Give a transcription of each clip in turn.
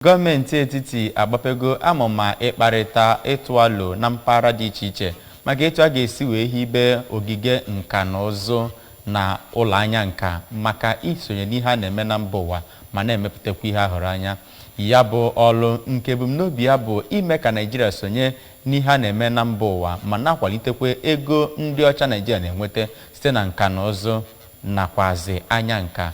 Gọọmenti etiti agbapego amụma ịkparịta ịtụ alo na mpaghara dị iche iche maka etu a ga-esi wee hibe ogige nka na ụzụ na ụlọ anya nka maka isonye n'ihe a na-eme na mba ụwa ma na-emepụtakwa ihe a hụrụ anya. Ya bụ ọlụ nke ebumnobi ya bụ ime ka Naịjirịa sonye n'ihe a na-eme na mba ụwa ma na-akwalitekwa ego ndị ọcha Naịjirịa na-enweta site na nka na ụzụ nakwazị anya nka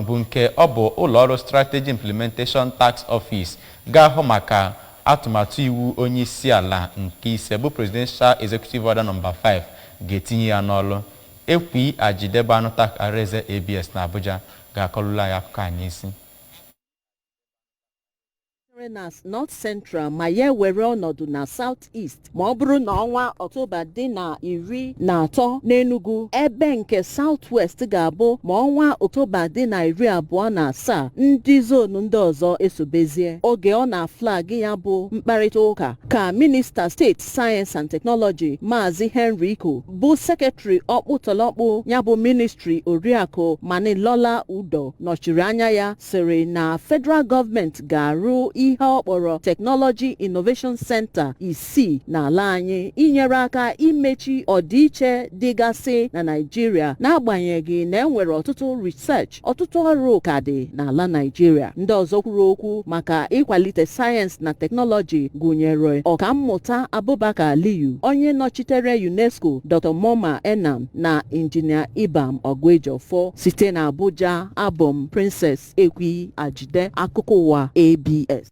bụ nke ọ bụ ụlọọrụ Strategy Implementation Task Office ga-ahụ maka atụmatụ iwu onyeisiala nke ise bụ Presidential Executive Order No. 5 ga-etinye ya n'ọlụ. Ekwi Ajide bụ anụta akara eze ABS n'Abuja ga-akọlụlụ anyị akụkọ a n'isi. sitere na North Central ma ya ewere ọnọdụ na South East ma ọ bụrụ na ọnwa Ọktoba dị na iri na atọ n'Enugu ebe nke South West ga-abụ ma ọnwa Ọktoba dị na iri abụọ na asaa ndị zonu ndị ọzọ esobezie oge ọ na-aflag ya bụ mkparịta ụka ka minista steeti Science and Technology Maazị Henry Ikoh bụ sekretrị ọkpụtọlọkpụ ya bụ ministri Oriakụ Monilola Udoh nọchiri anya ya sịrị na federal gọọmenti ga-arụ ihe ọ kpọrọ Technology Innovation Center isii n'ala anyị inyere aka imechi ọdịiche dịgasị na Naịjirịa n'agbanyeghị na e nwere ọtụtụ research ọtụtụ ọrụ ka dị n'ala Naịjirịa ndị ọzọ kwuru okwu maka ịkwalite sayensị na teknọlọji gụnyere ọkammụta Abubakar Aliyu onye nọchitere UNESCO Dr. Moma Enang na injinia Ibiam Oguejiofo site na Abuja abụ m Princess Ekwi Ajide akụkọ ụwa ABS